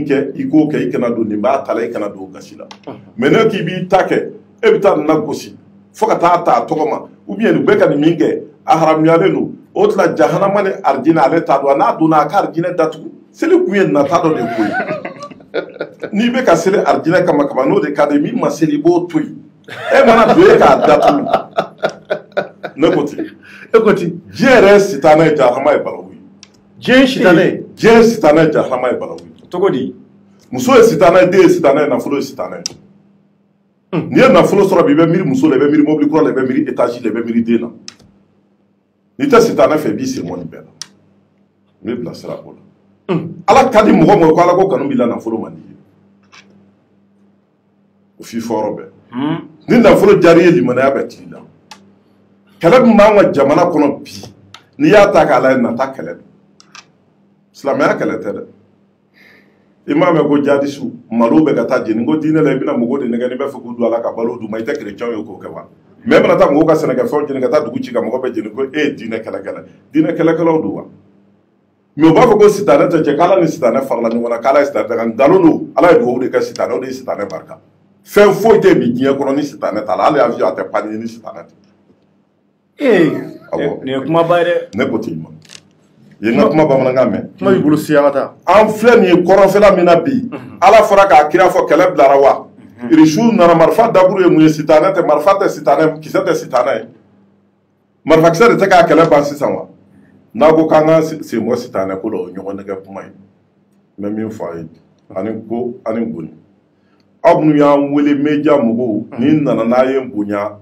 kɛ i k'o kɛ i kana don nin b'a ta la i kana don gasi la mais ne k'i b'i ta kɛ e bɛ taa nin na gosi fo ka taa ta a tɔgɔ ma ou bien u bɛ ka nin min kɛ a haramuyalen don o tila jahanama ni arijinɛ ale t'a dɔn n'a donna a ka arijinɛ datugu seli kun ye nata dɔ de ko ye n'i bɛ ka seli arijinɛ kama kama n'o de ka di min ma seli i b'o to yen e mana don e k'a datugu ne ko ten e ko ten diɲɛ yɛrɛ sitanɛ ye jahanama ye balawu ye diɲɛ sitanɛ ye diɲɛ sitanɛ ye jahanama ye balawu ye cogo di muso ye sitanɛ ye den ye sitanɛ ye nafolo ye sitanɛ ye hmm. n'i ye nafolo sɔrɔ bi i bɛ miiri muso la i bɛ miiri mobili kura la i bɛ miiri étage la i bɛ miiri den na n'i tɛ sitanɛ fɛ i b'i sen bɔ nin bɛɛ la n b'i bilasira o la hmm. ala ka di mɔgɔ o mɔgɔ ko ala ko kanu b'i la nafolo man d'i ye o f'i fɔ yɔrɔ bɛɛ ni nafolo diyara i ye limanaya bɛɛ t'i la kɛlɛ min b'an ka jamana kɔnɔ bi n'i y'a ta k'a lajɛ nata kɛlɛ don silamɛya kɛlɛ tɛ dɛ i m'a mɛn ko jadisiw malo bɛ ka taa jeni ko diinɛ la i bɛna mɔgɔw de nɛgɛn n'i b'a fɛ k'u don a la ka balo d'u ma i tɛ kerecɛnw ye k'o kɛ wa mais e bɛna taa mɔgɔw ka sɛnɛkɛfɛnw jeni ka taa dugu ci ka mɔgɔ bɛɛ jeni ko e ye diinɛ kɛlɛkɛla diinɛ kɛlɛkɛlaw don wa mais u b'a fɔ ko sitanɛ tɛ cɛ k'ala ni sitanɛ farala ɲɔgɔn na k'ala ye sitanɛ danga nkalon don ala ye dugawu de kɛ sitanɛ o de ye sitanɛ barika fɛn foyi tɛ bi diɲɛ kɔnɔ ni sitanɛ t'a la hali avion a tɛ pan ni sitanɛ tɛ ee nin ye kumaba ye dɛ ne ko ten ma ye n ka kuma bamanankan mɛn kuma b'i bolo siya ka taa an filɛ nin ye kɔrɔnfɛla min na bi mhm. ala fɔra ka kira fɔ kɛlɛ bilara wa mhm. irisiw nana marifa daburu ye mun ye sitanɛ tɛ marifa tɛ sitanɛ kisɛ tɛ sitanɛ ye marifakisɛ de tɛ ka kɛlɛ ban sisan wa n'a ko k'an k'an sen bɔ sitanɛ ko la o ɲɔgɔn nɛgɛn kuma ye n bɛ min fɔ a ye ani ko ani goni aw minnu y'an wele media mɔgɔw mm. ni nana n'a ye bonya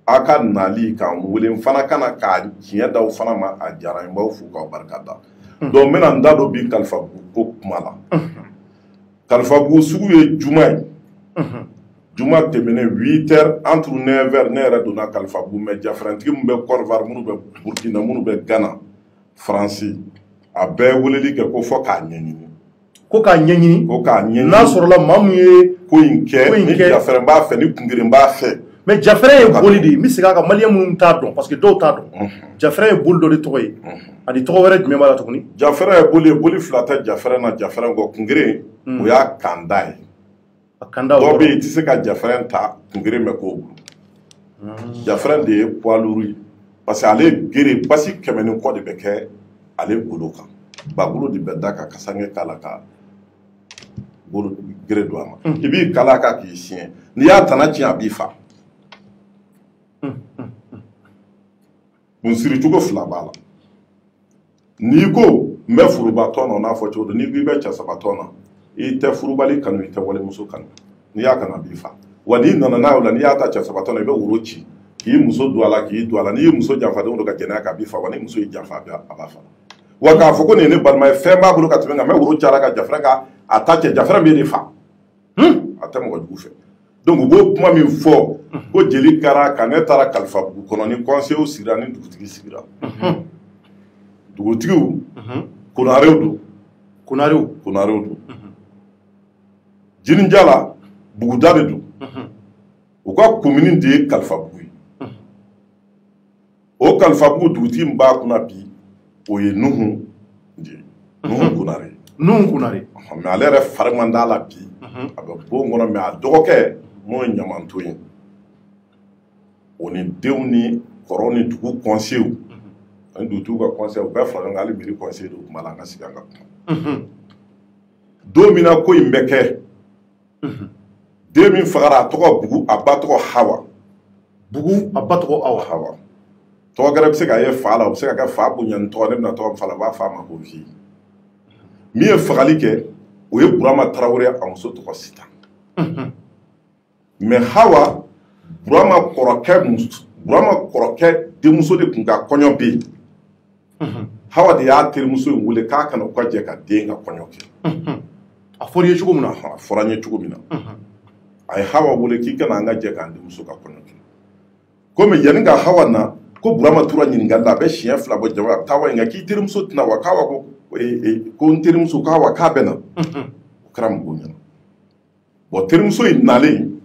aw ka nali k'an wele n fana ka na ka tiɲɛ d'aw fana ma a diyara n b'aw fo k'aw barika da mm. donc n bɛna n da don bi kalifabugu ko kuma la mm-hmm. kalifabugu sugu ye juma ye mm-hmm. juma tɛmɛnen 8 heures entre 9 heures ne yɛrɛ donna kalifabugu mais jafɛrɛntigi minnu bɛ Côte d'Ivoire minnu bɛ burkina minnu bɛ gana faransi a bɛɛ weleli kɛ ko fo k'a ɲɛɲini ko k'a ɲɛɲini ko k'a ɲɛɲini n'a sɔrɔla maa min ye ko in kɛ ni jafɛrɛn b'a fɛ ni kungeren b'a fɛ mais jafɛrɛn ye boli de ye n bɛ segin a kan maliyɛn minnu t'a dɔn parce que dɔw t'a dɔn jafɛrɛn ye boli dɔ de tɔgɔ ye ani tɔgɔ wɛrɛ jumɛn b'a la tuguni jafɛrɛn ye boli ye boli fila tɛ jafɛrɛn na jafɛrɛn kɔ kungeren o y'a kanda ye a kanda o dɔ yɔrɔ bɛ yen i tɛ se ka jafɛrɛn ta kungeren ma k'o bolo jafɛrɛn de ye poids lourd ye parce que ale gere basi kɛmɛ ni kɔ de bɛ kɛ ale golo kan bagolo de bɛ da ka kasange k'a la ka golo gere don a ma i b'i kali a kan k'i siɲɛ n'i y'a tana tiɲɛ a b'i fa kun siri cogo fila b'a la n'i ko n bɛ furuba tɔn na o n'a fɔ cogo don n'i ko i bɛ cɛ saba tɔn na i tɛ furubali kanu i tɛ walimuso kanu n'i y'a kanu a b'i faga n'i nana n'a ye o la n'i y'a ta cɛ saba tɔn na i bɛ woro ci k'i muso don a la k'i don a la n'i ye muso janfa don o don ka jɛnɛya kɛ a b'i faga ni muso y'i janfa a b'a faga k'a fɔ ko nin ye ne balima ye fɛn b'a bolo ka tɛmɛ nka n bɛ woro ci a la ka jafɛrɛn ka a ta cɛ jafɛrɛn bɛ ne fa a tɛ mɔgɔ jugu fɛ donc u b'o kuma min fɔ ko jeli kara ka ne taara kalifabugu kɔnɔ ni kɔnsew sigira ni dugutigi sigira dugutigiw konarew don konarew don jininjala buguda de don u ka komini de ye kalifabugu ye o kalifabugu dugutigi min b'a kunna bi o ye nuhu de ye nuhu mhm. konare nuhu konare mɛ ale yɛrɛ fari man d'a la bi mhm. a bɛ bon kɔnɔ mɛ a dɔgɔkɛ n'o ye ɲamanton ye o ni denw ni kɔrɔw ni dugu kɔnsew mhm. ani dugutigiw ka kɔnsew bɛɛ fara ɲɔgɔn kan hali mɛri kɔnse dɔ tun b'a la an ka sigi an ka kuma don min na ko in bɛ kɛ den min fagara a tɔgɔ bugu a ba tɔgɔ hawa bugu a ba tɔgɔ hawa tɔgɔ gɛrɛ bɛ se ka ye fa la o bɛ se ka kɛ fa bonyani tɔgɔ ne bɛna tɔgɔ fa la u b'a fɔ a ma ko vieux min ye fagali kɛ o ye burama tarawele a muso tɔgɔ sita mɛ hawa burama kɔrɔkɛ burama kɔrɔkɛ denmuso de tun ka kɔɲɔ bɛ yen hawa de y'a terimuso in wele k'a ka na u ka jɛ k'a den ka kɔɲɔ kɛ a fɔra ye cogo min na a fɔra n ye cogo min na a ye hawa wele k'i ka na an ka jɛ k'an denmuso ka kɔɲɔ kɛ komi yanni ka hawa na ko burama tora ɲininkali la a bɛ siɲɛ fila bɔ jama a bɛ taa wa nka k'i terimuso tɛ na wa k'a wa ko ko n terimuso k'a wa k'a bɛ na o kɛra mɔgɔw ɲɛna bɔn terimuso in nalen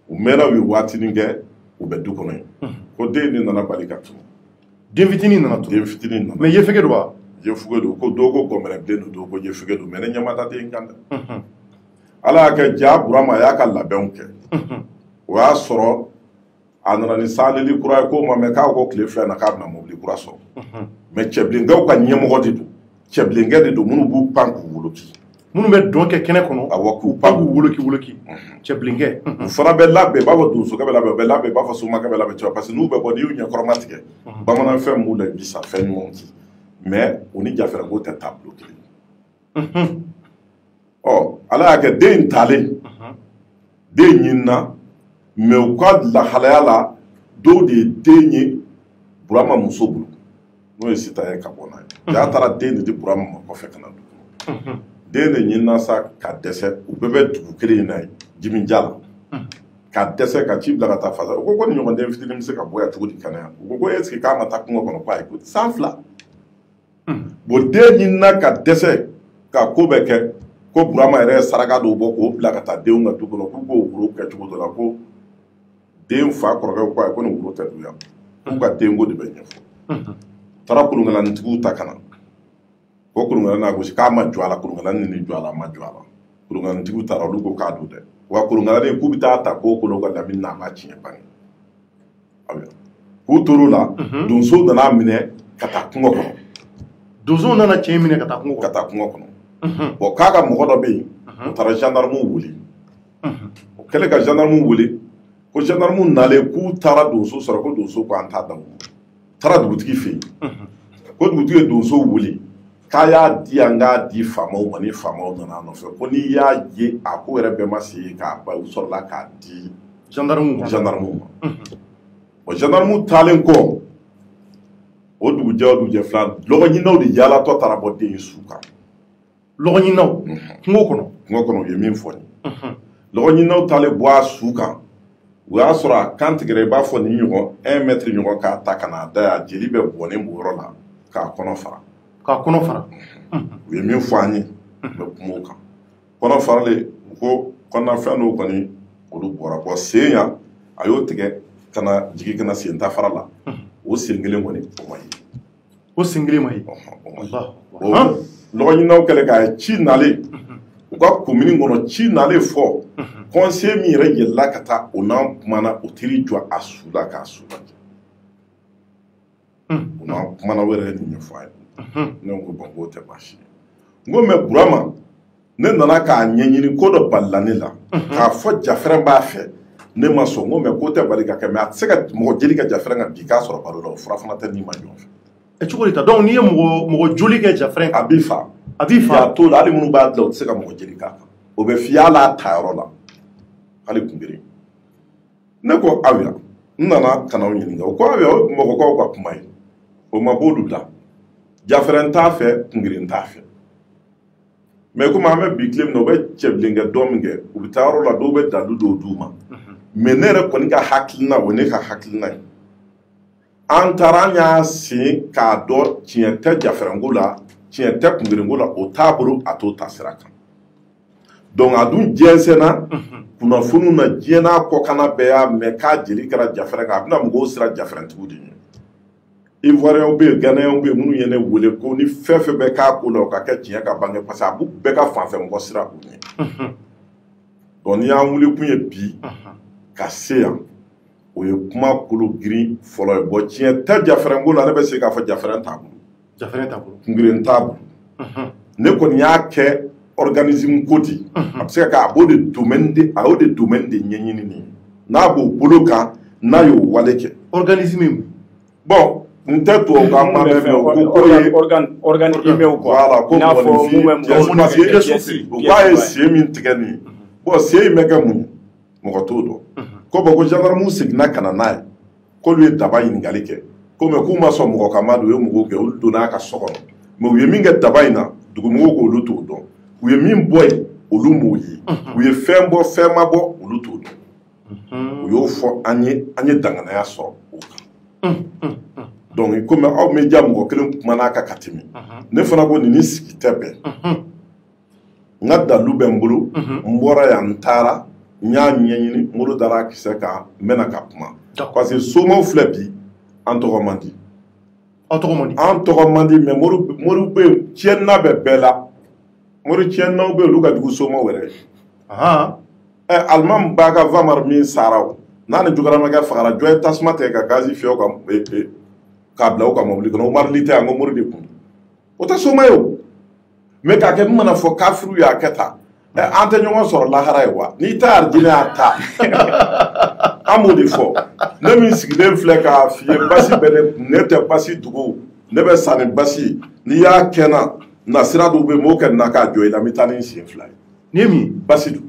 u mɛnna u ye waatinin kɛ u bɛ du kɔnɔ yen ko den de nana bali ka tunun den fitinin nana tunun den fitinin nana mɛ yefege don wa yefege don ko dɔw ko gɔmɛrɛ den don dɔw ko yefege don mɛ ne ɲɛ ma da den kan dɛ ala y'a kɛ jaa burama a y'a ka labɛnw kɛ o y'a sɔrɔ a nana ni sanlili kura ye ko ma mɛ k'o kɔ tile fila na k'a bɛna mobili kura sɔrɔ mɛ cɛbilenkɛw ka ɲɛmɔgɔ de don cɛbilenkɛ de don minnu b'u pan k'u woloki minnu bɛ dɔn kɛ kɛnɛ kɔnɔ awɔ k'u pan k'u woloki woloki cɛbilenkɛ u fana bɛ labɛn b'a fɔ donsokɛ bɛ labɛn u bɛ labɛn b'a fɔ somakɛ bɛ labɛn cogo parce que n'u bɛ bɔ n'i y'u ɲɛkɔrɔmatigɛ bamananfɛn b'u la bisa fɛn ɲumanw ci mɛ u ni jafɛrɛnko tɛ taabolo kelen ɔ ala y'a kɛ den in talen den ɲinina mɛ u ka lahalaya la dɔw de ye den ye burama muso bolo n'o ye sita ye ka bɔ n'a ye jaa taara den de di burama ma kɔfɛ ka na dugu kɔnɔ den de ɲinina sa ka dɛsɛ u bɛɛ bɛ dugu kelen in na yen jimija la ka dɛsɛ ka ci bila ka taa fasa u ko ko nin ɲɔgɔn den fitinin bɛ se ka bɔ yan cogo di ka na yan u ko ko est-ce que k'a ma taa kungo kɔnɔ ko ayi ko san fila bon den ɲinina ka dɛsɛ ka ko bɛɛ kɛ ko burama yɛrɛ ye saraka dɔw bɔ k'o bila ka taa denw ka du kɔnɔ k'u k'o woro kɛ cogo dɔ la ko den fa kɔrɔkɛ ko ayi ko nin woro tɛ dun yan k'u ka denko de bɛ ɲɛfɔ taara kolonkalanitigiw ta ka na ko kolonkalan n'a gosi k'a ma jɔ a la kolonkalan ni nin jɔ a la a ma jɔ a la kolonkalanitigiw taara olu ko k'a don dɛ wa kolonkalanni k'u bɛ ta ta k'o kolonkala mɛnɛ n'a ma tiɲɛ bange k'u tor'o la mhm. donsow nan'a minɛ ka taa kungo kɔnɔ donsow nana cɛ minɛ ka taa kungo kɔnɔ ka taa kungo kɔnɔ mhm. bon k'a ka mɔgɔ dɔ bɛ yen mhm. o taara gendarmew wele o kɛlen ka gendarmew wele ko gendarmew nalen k'u taara donsow sɔrɔ ko donsow ko an t'a d'aw ma u taara dugutigi fɛ yen ko dugutigi ye donsow wele k'a y'a di yan k'a di faamaw ma ni faamaw nana a nɔfɛ ko n'i y'a ye a ko yɛrɛ bɛɛ ma se ka ban u sɔrɔla k'a di gendarmew ma gendarmew ma o gendarmew taalen kɔ o dugujɛ o dugujɛ fila lɔgɔɲininaw de yaalatɔ taara bɔ den in su kan lɔgɔɲininaw kungo kɔnɔ kungo kɔnɔ u ye min fɔ ni lɔgɔɲininaw taalen bɔ a su kan o y'a sɔrɔ a kan tigɛra i b'a fɔ nin ɲɔgɔn un mètre ɲɔgɔn k'a ta ka n'a da yan jeli bɛ bɔnnen b'o yɔrɔ la k'a kɔnɔ fara k'a kɔnɔ fara u ye min fɔ an ye n bɛ kuma o kan kɔnɔ faralen u ko kɔnɔnafɛn dɔw kɔni olu bɔra bon sen yan a y'o tigɛ ka na jigin ka na sen ta fara la o sen kelen kɔni o ma ye o sen kelen ma ye lɔgɔɲininaw kɛlen k'a ye ci nalen u ka komini kɔnɔ ci nalen fɔ conseil min yɛrɛ yɛlɛla ka taa o n'an kumana o teri jɔ a su la k'a su lajɛ o n'an kumana o yɛrɛ ye nin ɲɛfɔ an ye ne ko bon k'o tɛ baasi ye n ko mɛ burama ne nana k'a ɲɛɲini ko dɔ balala ne la mhm. k'a fɔ jafɛrɛn b'a fɛ ne ma sɔn n ko mɛ k'o tɛ bali ka kɛ mɛ a tɛ se ka mɔgɔ jeli kɛ jafɛrɛn kan bi k'a sɔrɔ balo la o fura fana tɛ n'i ma ɲɔgɔn fɛ e cogo de ta donc n'i ye mɔgɔ mɔgɔ joli kɛ jafɛrɛn a b'i fa a b'i fa a t'o la hali minnu b'a dilan o tɛ se ka mɔgɔ jeli k'a kan o bɛ fiy'a la a ta yɔrɔ la hali kunbiri ne ko ayiwa n nana ka n'aw ɲininka o ko ayiwa o mɔgɔkɔrɔw ka kuma ye o ma b'olu la jafɛrɛn t'a fɛ kungirin t'a fɛ mɛ komi an bɛ bi tile min na u bɛ cɛbilenkɛ dɔ min kɛ u bɛ taa yɔrɔ la dɔw bɛ dalu dɔw d'u ma mɛ ne yɛrɛ kɔni ka hakilina o ne ka hakilina ye an taara an y'a sen k'a dɔn tiɲɛ tɛ jafɛrɛnko la tiɲɛ tɛ kungerenko la o t'a bolo a t'o taasira kan donc a dun jɛnsɛnna kunnafoniw na diɲɛ n'a kɔkanna bɛɛ y'a mɛn k'a jeli kɛra jafɛrɛn kan a bɛna mɔgɔw siran jafɛrɛntigiw de ɲɛ ivoiriyɛnw bɛ yen ganayɛnw bɛ yen minnu ye ne wele ko ni fɛn fɛn bɛ k'a ko la o ka kɛ tiɲɛ ka bange parce que a b'u bɛɛ ka fanfɛ mɔgɔ siran u ɲɛ donc n'i y'an wuli kun ye bi ka se yan o ye kuma kolo girin fɔlɔ ye bon tiɲɛ tɛ jafɛrɛnko la ne bɛ se k'a fɔ jafɛrɛn t'a bolo jafɛrɛn t'a bolo kungirin t'a bolo ne kɔni y'a kɛ organisme ko di a bɛ se ka a b'o de domaine de a y'o de domaine de ɲɛɲini nin n'a b'o bolo kan n'a y'o wale kɛ organisme bon n tɛ tubabukan ma mɛn mɛ o ko ye organe organe humain quoi voilà ko mɔgɔninfin pièce u k'a ye sen min tigɛ nin ye bon sen in bɛ kɛ mun ye mɔgɔ t'o dɔn ko bon ko gendarmew seginna ka na n'a ye k'olu ye daba ɲininkali kɛ ko mɛ k'u ma sɔn mɔgɔ ka madon u ye mɔgɔw gɛn olu donna a ka so kɔnɔ mɛ u ye min kɛ daba in na dugumɔgɔw ko olu t'o dɔn u ye min bɔ yen olu m'o ye u ye fɛn bɔ fɛn ma bɔ olu t'o dɔn u y'o fɔ an ye an ye danganaya sɔrɔ o kan donc komi aw média mɔgɔ kelen kumana a kan ka tɛmɛ ne fana ko nin ni sigi tɛ bɛn n ka dalu bɛ n bolo n bɔra yan n taara n y'a ɲɛɲini n bolo dara a kisɛ kan n bɛna ka kuma parce que somaw filɛ bi an tɔgɔ man di an tɔgɔ man di mɛ mori bɛ yen tiɲɛna bɛ bɛɛ la mori tiɲɛnaw bɛ yen olu ka jugu somaw yɛrɛ ye alimami b'a ka vamar min sara o n'a ni jogaramakɛ fagara jɔn ye tasuma tigɛ ka gazi fiyɛ o kan k'a bila o ka mɔbili kɔnɔ o marili tɛ yan ko mori de kun o tɛ soma ye o mɛ k'a kɛ n mana fɔ kafiri y'a kɛ ta an tɛ ɲɔgɔn sɔrɔ lahara yen wa n'i ta arijinɛ y'a ta an b'o de fɔ ne min sigilen filɛ k'a f'i ye basi bɛ ne kun ne tɛ basi dogo ne bɛ sa ni basi ye n'i y'a kɛ na na sira dɔw bɛ yen m'o kɛ na k'a jɔ i la n bɛ taa ni n sen fila ye n'i ye min basi dun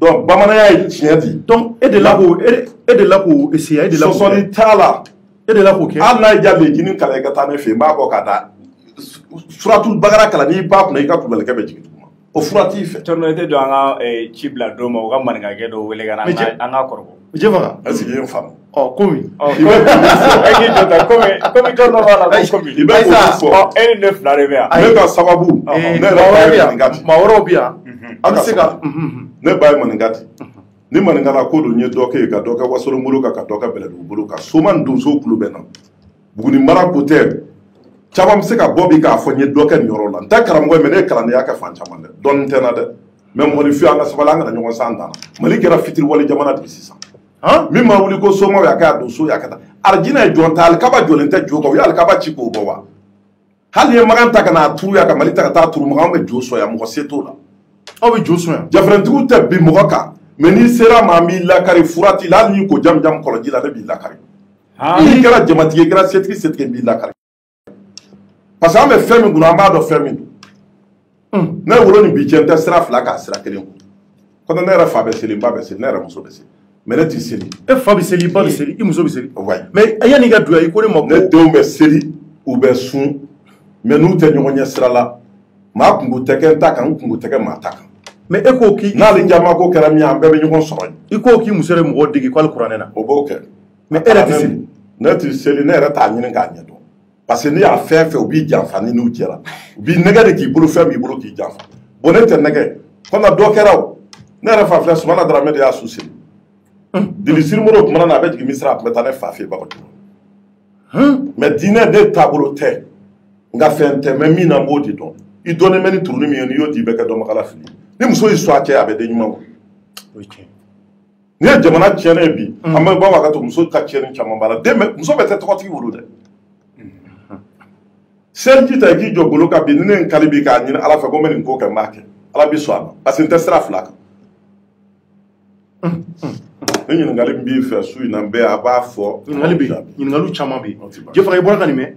donc bamananya ye tiɲɛ di donc e de la k'o e de la k'o essayer e de la k'o sɔsɔli t'a la e de la k'o kɛ hali n'a y'i diya lejini kalan i ka taa ne fɛ yen n b'a bɔ ka taa suratul bagara kalan n'i pan a kunna i ka kulubalikɛ bɛ jigin duguma o fura t'i fɛ tɔnɔ i tɛ don an ka ci bila dɔw ma u ka maninkakɛ dɔ wele ka na an ka kɔrɔbɔ jɛfaga est-ce que i y'o faamu ɔ komi i bɛ k'i jɔ tan komi komi jɔn dɔ b'a la ko komi i bɛ k'olu fɔ ɔ e ni ne fila de bɛ yan ne ka sababu ne yɛrɛ ba ye maninka di maa wɛrɛw bɛ yan an bɛ se ka ne ba ye maninka di ni maninkala ko don n ye dɔ kɛ yen ka dɔ kɛ wasolon bolo kan ka dɔ kɛ bɛlɛdugu bolo kan soma ni donso kulu bɛ na buguni mara ko tɛ caman bɛ se ka bɔ bi k'a fɔ n ye dɔ kɛ nin yɔrɔ la n tɛ karamɔgɔ ye mɛ ne ye kalandenya kɛ fan caman dɛ dɔnni tɛ n na dɛ mɛ mɔgɔninfin an ka sabali an kana ɲɔgɔn san dan mali kɛra fitiriwale jamana de sisan min ma wuli ko somaw y'a kɛ a donso y'a kɛ tan alijina ye jɔn ta alikaba jɔlen tɛ jo kan u ye alikaba ci k'o bɔ wa hali n'i ye makan ta ka n'a turu yan ka mali ta ka taa turu makan bɛ jo sɔn yan mɔgɔ se t'o la aw bɛ jo sɔn yan jafɛntigiw tɛ bin mɔgɔ kan mɛ n'i sera maa b'i lakari fura t'i la hali n'i ko jamujamu kɔlɔnji la ne b'i lakari n'i kɛra jamatigi ye kɛra setigi setigi b'i lakari parce que an bɛ fɛn min kunna an b'a dɔn fɛn min don hmm. ne wolo ni bi cɛ n tɛ sira fila kan sira kelen kun kɔnɔ ne yɛrɛ fa bɛ seli n ba bɛ seli ne yɛrɛ muso bɛ seli mɛ ne tɛ seli e fa bɛ seli i ba bɛ seli i muso bɛ seli mɛ yanni i ka duya i ko ne ma ko ne denw bɛ seli u bɛ sun mɛ n'u tɛ ɲɔgɔn ɲɛ sira la maa kunko tɛ kɛ n ta kan n kunko tɛ kɛ maa ta kan mɛ e ko k'i n'ale jama ko kɛra min ye an bɛɛ bɛ ɲɔgɔn sɔrɔ yen i ko k'i muso de mɔgɔ dege k'alikuranɛ na o b'o kɛ mɛ e yɛrɛ tɛ seli ne tɛ seli ne yɛrɛ t'a ɲini k'a ɲɛ dɔn parce que n'i y'a fɛn fɛn u b'i janfa ni n'u jɛra u b'i nɛgɛn de k'i bolofɛn b'i bolo k'i janfa bon ne tɛ nɛgɛn kɔmi dɔ kɛra o ne yɛrɛ fa filɛ sumana daramɛ de y'a su seli dili sirimoro tuma na a bɛ jigin misira a tun bɛ taa ne fa fɛ bakɔ mɛ diinɛ ne taabolo tɛ n ka fɛn tɛ mɛ min na n b'o de dɔn i dɔnnen bɛ ni turuni min ye n'i y'o di i bɛ kɛ dɔnbagala fili ni muso y'i sɔn a cɛ a bɛ den ɲuman kɔ N'i ye jamana tiɲɛnen ye bi, an bɛ bɔ ka to muso ka tiɲɛni caman b'a la dɛ. Muso bɛɛ tɛ tɔgɔtigi wolo dɛ. Seliji ta i k'i jɔ golo kan bi ni ne ye n kali bi k'a ɲini Ala fɛ ko n bɛ nin ko kɛ n b'a kɛ. Ala bɛ sɔn a ma parce que n tɛ sira fila kan. Ni ɲininkali min b'i fɛ su in na n bɛ a b'a fɔ. Ɲininkali bɛ yen, ɲininkaliw caman bɛ yen. Jɛfaga i bɔra ka nin mɛn.